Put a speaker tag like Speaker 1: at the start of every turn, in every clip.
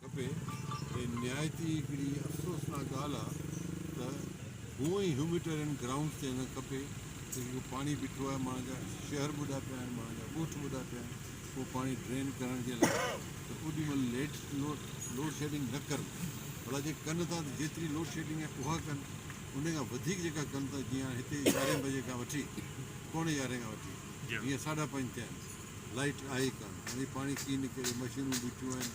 Speaker 1: کپي ۽ نهايت ئي هڪڙي افسوسناڪ ڳالهه آ ته هونء ئي هيوميٽيرين گرائونڊ چئنل کپي ته جيڪو پاڻي بيٺو آهي ماڻهن جا شهر ٻڏا پيا آهن ماڻهن جا ڳوٺ ٻڏا پيا آهن اهو پاڻي ڊرين ڪرڻ جي لاء ته اوڏي مهل ليڊ لوڊشيڊنگ نه ڪن ڀلا جي ڪن ٿا ته جيتري لوڊشيڊنگ آهي اها ڪن ان کان وڌيڪ جيڪا ڪن ته جيئن هاڻي هتي يارهين بجي کان وٺي پوڻي يارهين کان وٺي جيئن ساڍا پنج ٿيا آهن لائيٽ آهي ڪانه هاڻي پاڻي ڪيئن نڪري مشينون بيٺيون آهن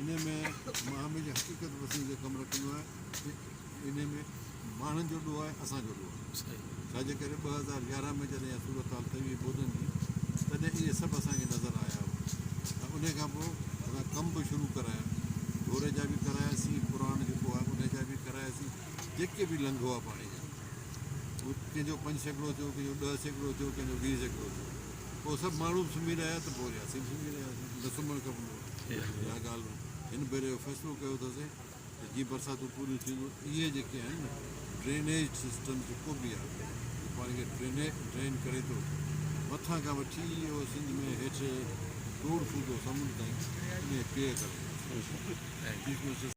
Speaker 1: انهيء ۾ مان هميشه حقيقت پسندي تي ڪم رکندو آهيان ته انهيء ۾ ماڻهن جو ڏوهه آهي اسان جو ڏوهه آهي ڇا جي ڪري ٻه هزار يارهن ۾ جڏهن اها صورتحال ٿي هئي ٻوڏن جي تڏهن اهي سڀ اسان کي نظر آيا هئا ۽ انهيء کان پوء اسان ڪم به شروع ڪرايا ڍوري جا به ڪراياسين پراڻ جيڪو آهي انهيء جا به ڪراياسين جيڪي به لنگهه هئا پاڻي جا ڪنهن جو پنج سيڪڙو ٿيو ڪنهن جو ڏهه سيڪڙو ٿيو ڪنهن جو ويهه سيڪڙو ٿيو پوء سڀ ماڻهو به سمهي رهيا ته پوري اسين به سمهي رهياسين. نه سمهڻ کپندو هو. اها ڳالهه هن ڀيري اهو فيصلو ڪيو اٿاسين ته جيئن برساتون پوريون ٿينديون اهي جيڪي آهن نه ڊرينيج سسٽم جيڪو به آهي اهو پاڻ کي ڊرين ڪري ٿو اچي مٿان کان وٺي اهو سنڌ ۾ هيٺ ڊوڙ فوٽو سمنڊ تائين انهي پيء ڪري ٿو اچي.